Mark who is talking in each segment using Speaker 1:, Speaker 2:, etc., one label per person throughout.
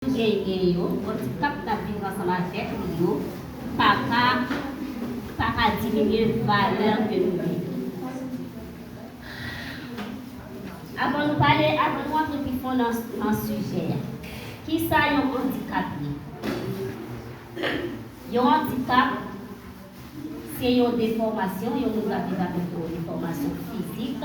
Speaker 1: Genyen yo, bon ti kap kap viv ansanm avèk li yo pa ka pa ka diminye valè ke nou genyen. Avan nou pale, avan nou antre pi fon nan nan sijè a, ki sa yon andikap ye? Yon andikap se yon defòmasyon, yon moun kap viv avèk yon defòmasyon fizik.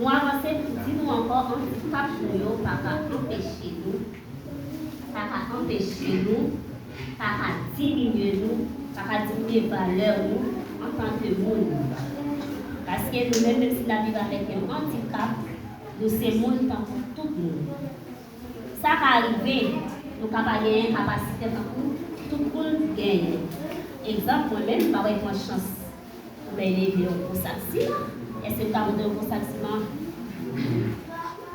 Speaker 1: Nou avanse pou di nou ankò anpil pach nou yo pa ka anpeche nou, pa ka anpeche nou, pa ka diminye nou, pa ka diminye valè nou antanke moun. Paske nou menm, menm si n'ap viv avèk yon andikap, nou se moun tankou tout moun. Sa ka rive nou ka pa genyen kapasite tankou tout moun ki genyen. Egzanp, mwen menm, m pa wè m pran chans Ou bèl e gen yon gwo sak sima. Eske m ka montre yon gwo sak sima?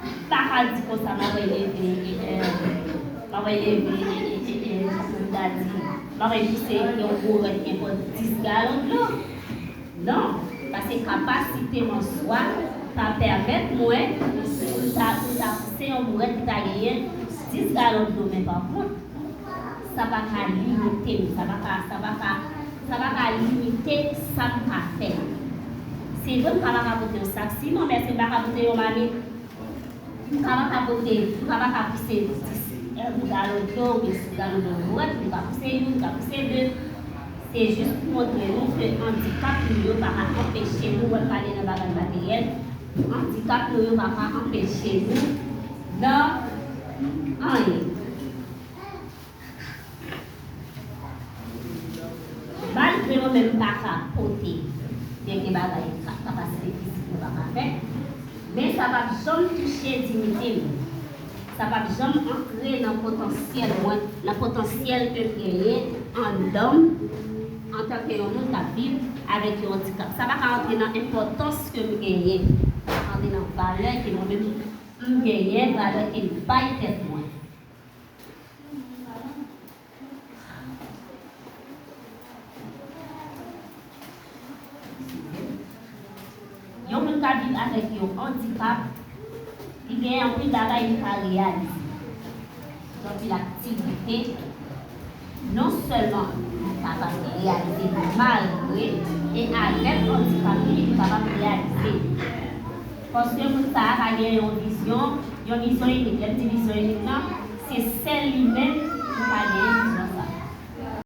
Speaker 1: M pa ka di konsa m ap wè leve e en. M ap wè leve e e e en pou m ta di. M ap wè ki se yon gwo rèn gen pou 10 galon dlo. Non, paske kapasite m an swa pa pèmèt mwen pou m ta pou m ta pouse yon bourèt ki ta genyen 10 galon dlo men pa kont. Sa pa ka limite m. Sa pa ka, sa pa ka, sa pa ka limite sa m ka fè. Se vre m ka pa ka pote yon sak siman, men èske m pa ka pote yon mamit? M ka pa ka pote, m ka pa ka pouse 10 galon dlo oubyen 10 galon dlo nan bwat, m ka pouse youn, m ka pouse de. Se jis pou montre nou ke andikap nou yo pa ka anpeche nou, wè m pale nan bagay materyèl, andikap nou yo pa ka anpeche nou nan anyen. Malgre nou menm pa ka pote dènye bagay ak kapasite fizik nou pa ka fè, men sa pa p janm touche diyite m. Sa pa p janm antre nan potansyèl mwen, nan potansyèl ke m genyen anndan m antanke yon moun k ap viv avèk yon andikap. Sa pa ka antre nan enpòtans ke m genyen, sa pa ka antre nan valè ke mwen menm m genyen, valè ke m bay tèt mwen. Yon moun ka viv avèk yon andikap, li gen anpil bagay li ka reyalize, gen anpil aktivite. non sèlman li kapab reyalize li malgre e avèk andikap li, li kapab reyalize li. Paske moun sa a pa gen yon vizyon, yon vizyon inik. Lè m di vizyon inik lan, se sèl li menm ki ka genyen vizyon sa a.